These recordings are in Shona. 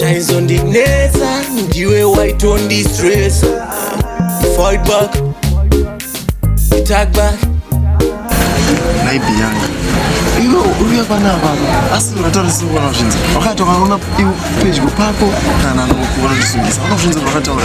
chaizondinetsa ndiwe waitondistresa fight back attack back naibi yanga iwe uruya pana baba asi unataurisa kuona zvinzi wakati wakaona pedyo pako kana nokuona ndisungisa unozvinzi vakataura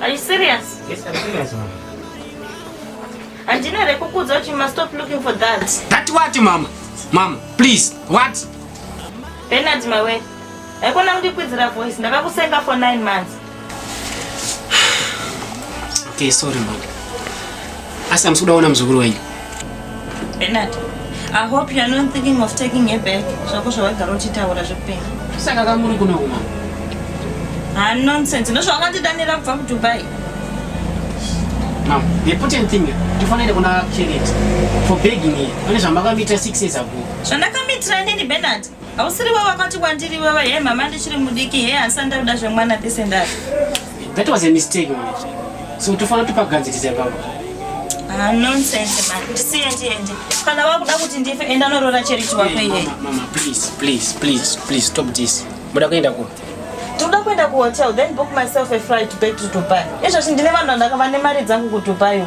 Are you serious? Yes, I'm serious, mama. Andina rekukudza kuti you must stop looking for that. That what, mama? Mama, please, what? Bernard, my way. Haikona kundikwidzira voice, ndakakusenga for nine months. Okay, sorry, mama. Asi hamusi kuda kuona muzukuru wenyu. Bernard, I hope you are not thinking of taking her back. Zvako zvawagara uchitaura zvekupenga. Saka kamuri kuna uma. Ah nonsense. Ndozvo wakandidanira kubva kuDubai. Mom, the important thing tifanire kuna Charity for begging here. Pane zvamakamuita 6 years ago. Zvandakamuitira nini Bernard? Hausiri wewe wakati kwandiri wewe he mama ndichiri mudiki he asi andakuda zvemwana pese ndari. That was a mistake. So tofana topagadziriza baba. Ah nonsense man. Ndisiye ndiende. Kana wakuda kuti ndife enda norora cherichi wako iye. Mama, mama please please please please stop this. Muda kuenda ku. Tinoda kuenda ku hotel then book myself a flight back to Dubai. Izvozvi ndine vanhu vandakava nemari dzangu ku Dubai.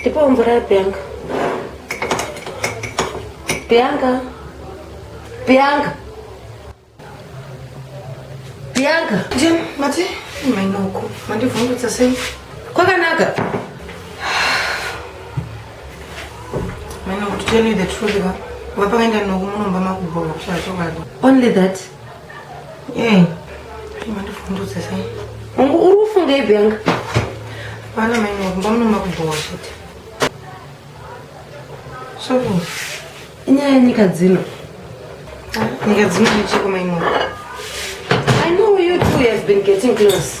Ndipo mvura ya Bianca. Bianca. Bianca. Bianca. Jim, mati, mainoko. Mandivhungutsa sei? Kwakanaka. Mainoko, to tell you the truth, vapakaenda noku munomba makubhowa kushaya chokwadi. Only that. Hey, mandifundudze sei? Ungu uri kufunga ipi yanga? Hapana mai wangu, mbamuna makubhowa chete. Soko, inyaya yenyika dzino. Ah, nyika dzino ndichiko mai wangu. I know you two have been getting close.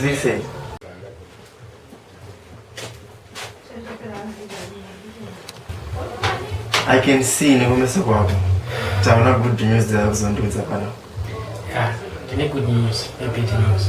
Zisei. I can see nekumeso kwako taona good news dzakuzondiudza pano. Yeah, good news, bad news.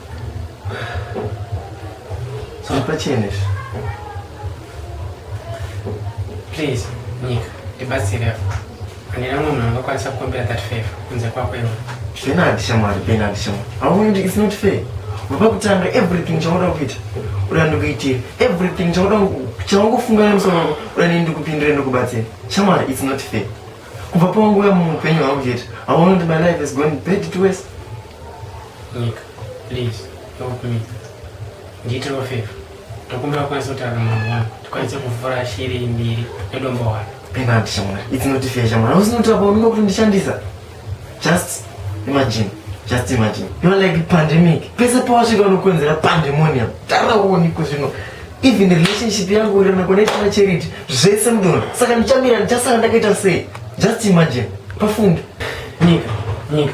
Pachene izvi. Please, Nyika, ndibatsire apo. Handina mumwe munhu angakwanisa kukumbira that favor kunze kwako iwe. Benard shamwari, Benard shamwari. Hauoni kuti it's not fair. Wava kutanga everything chaunoda kuita. Uda ndikuitire everything chaunoda chaungofunga nemusoro wako. Uda nini ndikupindire ndikubatsire. Shamwari, it's not fair. Kubva panguva muhupenyu hwangu chete. Hauoni kuti my life is going bad to worse. Nyika, please help me. Ndiitire favor. Ndokumbira kwanisa kutaura mwana wangu. Tikwanise kuvhura shiri mbiri nedombo wani. Penalty shamwana. It's not fair shamwana. Hausi not about me kundishandisa. Just imagine. Just imagine. You are like pandemic. Pese pawasvika unokonzera pandemonium. Tara uone kuzvino. Even relationship yangu uri na connect na charity. Zvese mdono. Saka ndichamira ndichasara ndakaita sei? Just imagine. Pafunge. Nyika, nyika.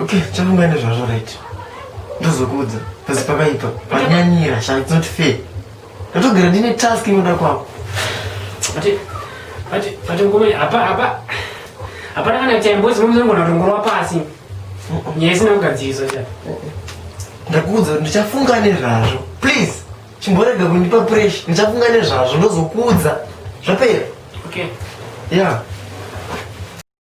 Okay, chafunga ende zvazvo right. Ndozokuudza. Pasi pakaipa. Panyanyira, sha it's not fair. Ndotogara ndine task inoda kwako. But but but ngome apa apa. Hapana kana kuti mbozi mumzongo ndongorwa pasi. Nyaya isina kugadzirisa sha. Ndakuudza ndichafunga nezvazvo. Please. Chimborega kundipa pressure. Ndichafunga nezvazvo ndozokuudza. Zvapera. Okay. Yeah.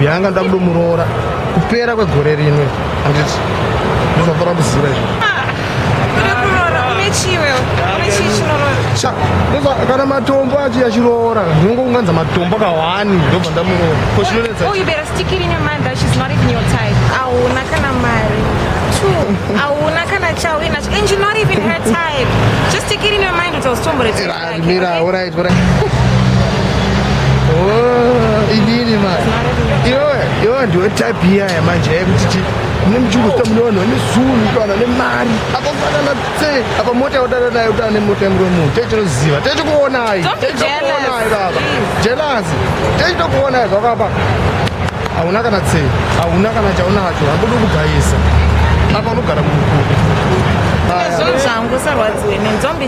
Bianca ndoda kudomuroora kupera kwegore rino handiti ndizafara kuziva izvo kana matombo achi achiroora ndinongo kunganza matombo kawani ndobva ndamuroora ko chinonetsa oh, hauna kana mari hauna kana chawinacho and you're not even her type just take it in your mind kuti hausitomboreera Mira, alright, alright. Oh, inini man. Iwe, iwe ndiwe type iya yamanje yekuti chi mune muchingosita mune vanhu vane zunhu kana nemari apa fanana tse apa mota yaudana nayo utana nemota yemuromo techinoziva techikuonai techikuonai baba jelasi techitokuonai zvakapa hauna kana tse hauna kana chaunacho hakuda kugaisa apa unogara mumukuku zvangu sarwadziwe nenzombi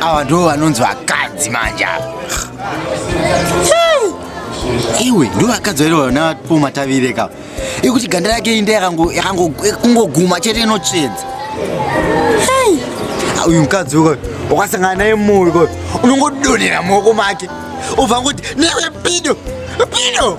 awa ndo vanonzi vakadzi manje ava iwe ndo vakadzi vairo vana po matavire ka ikuti ganda rake inda yakangokungoguma chete inotsvedza uyu mukadzi uko wakasangana naye mumwe unongodonhera muoko make ubva ngoti newe pido pido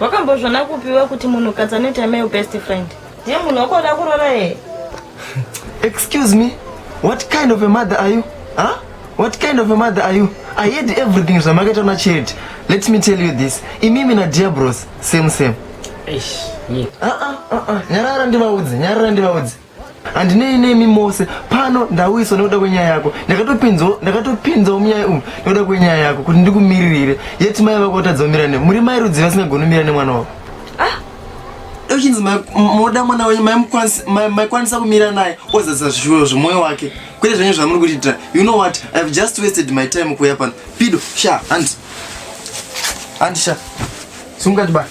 wakambozvona kupiwa kuti munhukadzi anoita male best friend ndiye munhu wakoda kurora here excuse me what kind of a mother are you huh? what kind of a mother are you i heard everything zvamakaita una charity let me tell you this imimi nadiabros same same nyarara ndivaudze nyarara ndivaudze handinei nemi mose pano ndauyiswa nekuda kwenyaya yako ndakatopinzawo munyaya umu nekuda kwenyaya yako kuti ndikumiririre yeti mai vako vatadza kumira ne muri mai rudzi vasingagoni kumira nemwana wako uchinzi ah, moda mwana wenyu maikwanisa kumira naye ozadzisa zvishuwo zvemwoyo wake kwete zvenyu zvamuri kutiitira you know what i have just wasted my time kuuya pano pido sha handi handi sha sungati bani